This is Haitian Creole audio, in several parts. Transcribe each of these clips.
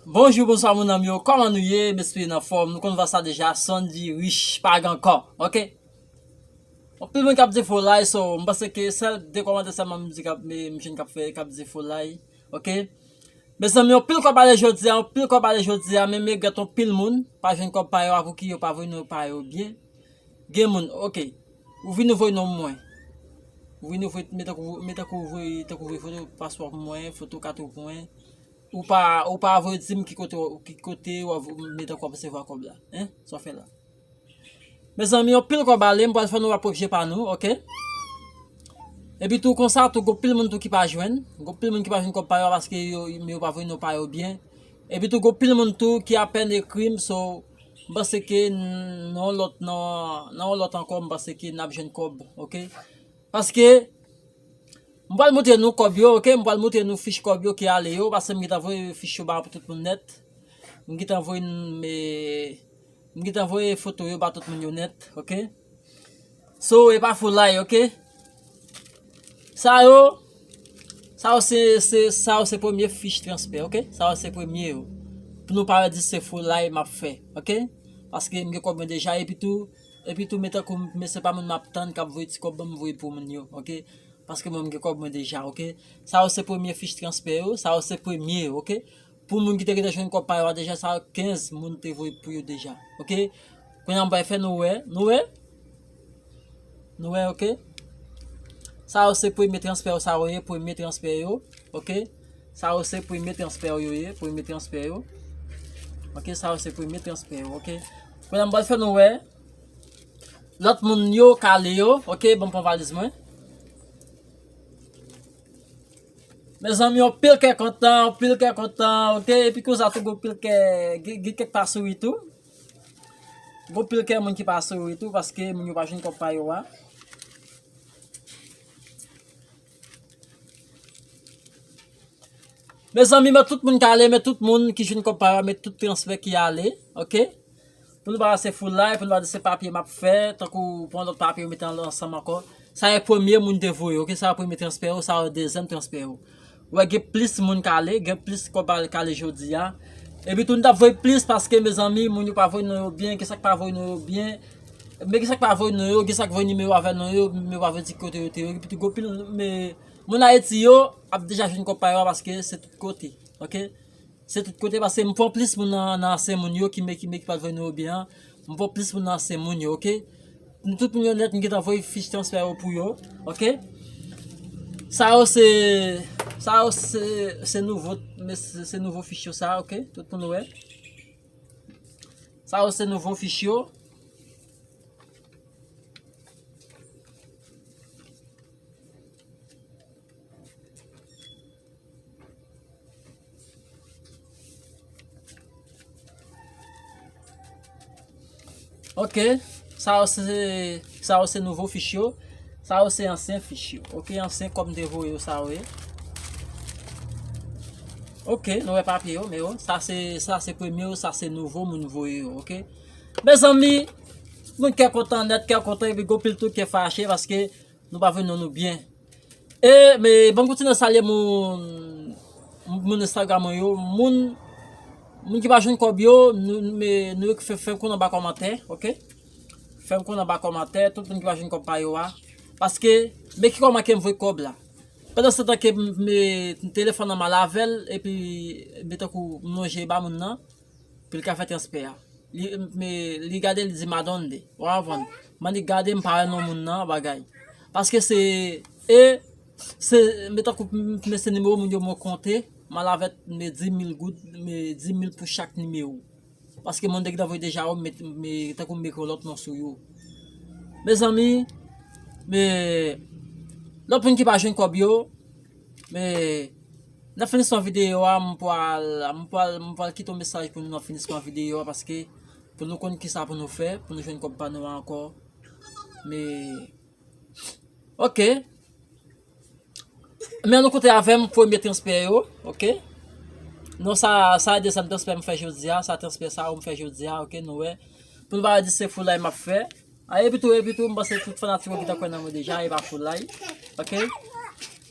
Bonjou bonswa moun anm yo kòman nou ye m espere n anfòm nou konn vwa sa deja son di rich pa gen kò ok anpil moun kap di foulay so m panse ke sèl 2 kòmantè sèlman m di kap m jwenn kap fè kap di foulay ok mezanmi anpil kòb ale jodi a anpil kòb ale jodi a men m regrèt anpil moun pa jwenn kòb pa yo avw ki yo pa voye non pa yo byen. Gen moun ok ou vin ou voy nom mwen ou vin ou voy men tankou men tankou ou voy tankou ou voy foto paspò pou mwen foto kat ou pou mwen ou pa ou pa voy di m ki kote w ki kote w ap men tankou w ap resevwa kòb la en sa w fè la mezanmi yon pil kòb ale m pral fè nou wè pwòp je pa nou ok epi tou konsa tou gon pil moun tou ki pa jwenn gon pil moun ki pa jwenn kòb pa yo paske yo men yo pa voy non pa yo byen epi tou gon pil moun tou ki apèn ekri m so M panse ke nan yon lòt nan nan yon lòt ankò m panse ke nap jwenn kòb ok paske m pral moutre nou kòb yo ok m pral moutre nou fich kòb yo ki ale yo paske m gentan voye fich yo ba pou tout moun nèt m gentan voye m gentan voye foto yo ba tout moun yo nèt ok. So e pa foulay ok. Sa yo sa yo se se sa yo se premye fich transfè ok. Sa yo se premye yo. Pou nou pa al di se foulay m ap fè ok. Paske m gen kòb mwen deja epi tou epi tou men tankou m men se pa moun m ap tann k ap voye ti kòb ban m voye pou moun yo ok. Paske mwen m gen kòb mwen deja ok. Sa yo se premye fich transfè yo. Sa yo se premye yo ok. Pou moun ki te gentan jwenn kòb pa yo a deja sa 15 moun te voye pou yo deja ok kounya m pral fè nou wè nou wè nou wè ok sa yo se premye transfè yo sa yo ye premye transfè yo ok sa yo se premye transfè yo ye premye transfè yo ok sa yo se premye transfè yo ok kounya m pral fè nou wè lòt moun yo kale yo ok banm pran valiz mwen. Mezanmi yon pil kè kontan, yon pil kè kontan, ok, epi konsa tou yon pil kè, gen kèk pa souri tou, yon pil kè moun ki pa souri tou, paske moun yo pa jwenn kòb pa yo a. Mezanmi mwen tout moun ki ale, mwen tout moun ki jwenn kòb pa yo a, mwen tout transfè ki ale, ok. Pou nou pa se foulay, pou nou pa di se papye map fè, tankou pran lòt papye yo mete ansanm ankò. Sa e premye moun te voye, ok, sa e premye transfè yo, sa e dezyèm transfè yo. Ou wè gen plis moun k ale, gen plis kòb al k ale jodi a. Epi tou nou tap voye plis paske mezanmi moun yo pa voye non yo byen, gen sa k pa voye non yo byen. Men gen sa k pa voye non yo, gen sa k voye nimewo avè non yo, men yo pa voye di ki kote yo te yo. Epi tou gen yon pil moun Ayiti yo ap deja jwenn kòb pa yo a paske se tout kote, ok. Se tout kote pase m pran plis moun nan nan ansyen moun yo ki me ki me ki pat voye nimewo byen an m pran plis moun nan ansyen moun yo ok nou tout moun yo nèt m gentan voye fich transfè yo pou yo ok sa yo se sa yo se se nouvo se nouvo fich yo sa ok tout moun wè sa yo se nouvo fich yo Ok, sa yo se, sa yo se nouvo fich yo, sa yo se ansyen fich yo. Ok, ansyen kòm de vo yo sa yo ye. Ok, nou wè papye yo, men yo, sa se, sa se premye yo, sa se nouvo moun vo yo, ok. Mezanmi, moun kè kontan nèt, kè kontan, epi gòpil tou kè fache, paske nou pa vin nou nou byen. E me banm kontinye salye moun moun Instagram mwen yo moun moun ki pa jwenn kob yo me nou yo ki fè fèm konn anba komantè ok fèm konn anba komantè tout moun ki pa jwenn kob pa yo a paske me ki koman kem voye kob la pandan se tan ke me telefòn nan m ale avèl epi me tankou m lonje ba moun nan. Pou li ka fè transfè a. Li me li gade li di madonde. Ou a vann. Man li gade m pa wè non moun nan bagay. Paske se e se me tankou me se nimewo moun yo mwen konte. Man la vèt me di mil goud me di mil pou chak nimewo. Paske moun te gin dan voye deja ou met me tankou me kon lòt non sou yo. Mezanmi me lòt moun ki pa jwenn kòb yo me. Nan finisman videyo a m pwal m pwal m pwal kite yon mesaj pou nou nan finisman videyo a paske pou nou konn kisa pou nou fè pou nou jwenn kòb pa nou ankò me ok men nou koute avè m premye transfè yo ok non sa sa de sa m transfè m fè jodi a sa transfè sa ou m fè jodi a ok nou wè pou nou pa di se foulay m ap fè a epi tou epi tou m panse tout fanatik yo ki ta kwè nan mwen deja e pa foulay ok.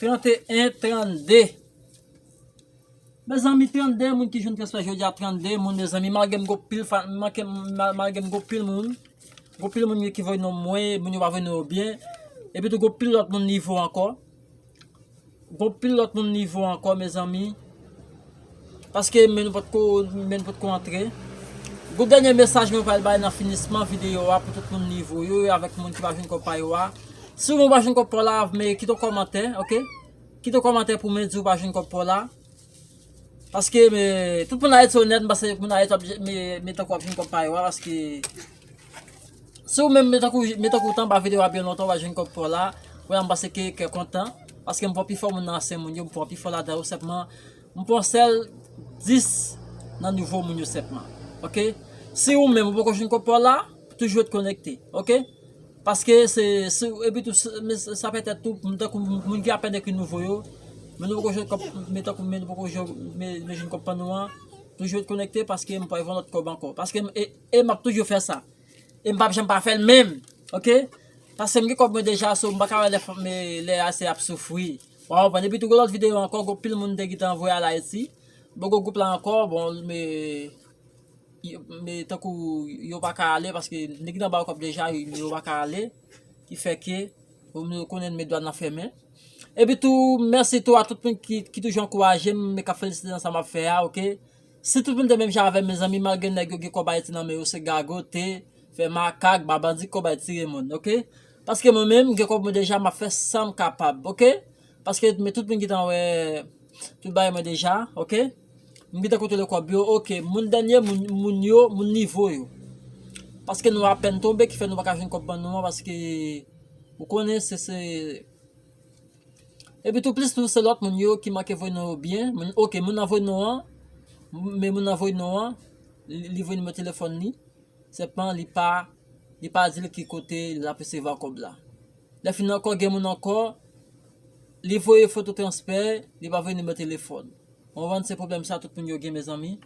31 32 Mezanmi 32 moun ki jwenn transfè jodia 32 moun mezanmi malgrem gen pil malgrem gen pil moun gen pil moun ki voy nom mwen moun yo pa voy non yo byen epi tou gen pil lòt moun nivo ankò gen pil lòt moun nivo ankò mezanmi Paske men nou pat ko men nou pat ko antre. Group dènye mesaj mwen pral bay nan finisman video a pou tout moun li voye yo avèk moun ki pa jwenn kòb pa yo a. Si ou menm ou pa jwenn kòb pa w la, men kite yon kòmantè, ok? Kite yon kòmantè pou men di ou pa jwenn kòb pa w la. Paske men tout moun Ayiti onèt, m panse moun Ayiti ap men tankou ap jwenn kòb pa yo a paske Si ou menm men tankou tanba video a byen lontan ou pa jwenn kòb paw la, wè la m panse ke kè kontan paske m pa wè pi fò moun nan ansyen moun yo, m pa wè pi fò ladan yo senpman m pran sèl 10 nan nouvo moun yo senpman ok. Si ou menm ou poko jwenn kòb paw la, toujou ret konekte ok paske se si ou epi tou sa pètèt tou m tankou moun ki apèn ekri nouvo yo men nou poko jwenn kòb men tankou men nou poko jwenn kòb pa nou an toujou ret konekte paske m pral gen lòt kòb ankò paske m e. E map toujou fè sa. E mpap janm pa fèl menm. Ok. Paskem gen kòb mwen deja so mpaka wè lè fanm lè ase ap soufri. Ou a konprann. Epi tou gen lòt video ankò gen pil moun te gentan voye al Ayiti. Bon gen gwoup la ankò bon me me tankou yo paka ale paske nèg nan ba yo kòb deja yo paka ale. Ki fè ke ou menm ou konnen men dwàn nan fèmen. Epi tou mèsi tou a tout moun ki toujou ankourajem e kap felisite nan sa map fè a ok. Si tout moun te menm jan avèm mezanmi malgre nèg yo gen kòb ayiti nan men yo se gagote, fè makak, ba bandi kòb ayiti tire moun ok paske mwen menm m gen kòb mwen deja map fè sam kapab ok paske men tout moun gentan wè tout bagay mwen deja ok m gentan kontwole kòb yo ok moun dènye moun moun yo moun nivo yo paske nou apèn tonbe ki fè nou paka jwenn kòb ban nou an paske ou konnen se se Epi tou plis tou se lòt moun yo ki manke voye non yo byen, moun ok moun nan voye non an, men moun nan voye non an, li voye nimewo telefòn li, senpman li pa, li pa di l ki kote l ap resevwa kòb la. Lè fin ankò gen moun ankò, li voye foto transfè, li pa voye nimewo telefòn. Bon van se problem sa tout moun yo gen mezanmi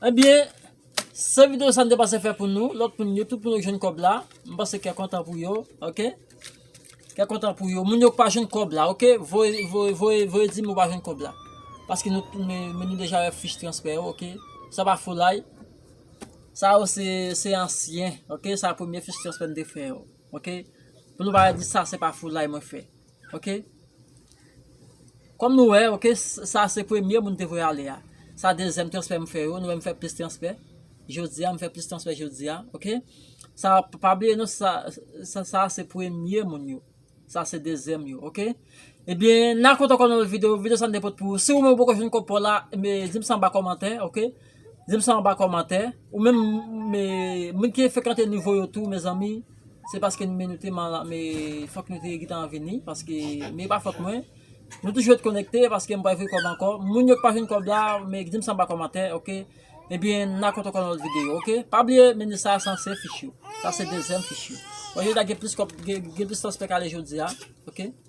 Ebyen se video sa m te pase fè pou nou lòt moun yo tout moun yo k jwenn kòb la m pase kè kontan pou yo ok kè kontan pou yo moun yo k pa jwenn kòb la ok voye voye voye voye di m ou pa jwenn kòb la paske nou men nou deja wè fich transfè yo ok sa pa foulay sa yo se se ansyen ok sa premye fich transfè m te fè yo ok pou nou pa di sa se pa foulay mwen fè Ok Kom nou wè ok sa se premye moun te voye ale a sa dezyèm transfè m fè yo nou wè m fè plis transfè jodi a m fè plis transfè jodi a ok sa pa bliye non sa se premye moun yo sa se dezyèm yo ok ebyen nan kontan kontan nan lòt videyo videyo sa m te pot pou ou si ou menm ou poko jwenn kòb pa w la di m sa anba kòmantè ok. Dim sa anba kòmantè. Ou menm moun ki frekante nouvo yo tou mezanmi se paske nou menm nou te mal me fòk nou te gentan vini paske men e pa fòt mwen nou toujou ret konekte paske m pa voye kòb ankò moun yo k pa jwenn kòb la me dim sa anba kòmantè ok ebyen n a konte ankò nan lòt videyo ok pa bliye menu sa san se fish yo sa se dezyèm fish yo wè yo ta gen plis kòb gen plis transpè k ale jodi a ok.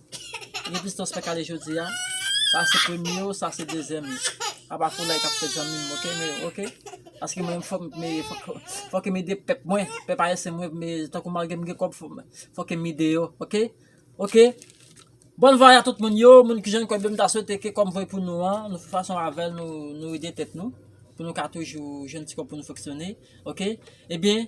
Gen distans fè kale jodia. Sa se premye yo, sa se dezyèm yo. Aba foulay kap fè zanmim ok me ok. Paske mwen menm fòk me fòk em ede pèp mwen, pèp ayisyen mwen me tankou malgre m gen kòb fòk em ede yo ok. Ok Bon vwayaj a tout moun yo, moun ki jwenn kòb yo m ta swete ke kòm voye pou nou an, nou fè fason avèl nou ede tèt nou pou nou ka toujou jwenn ti kòb pou nou fonksyone ok. Ebyen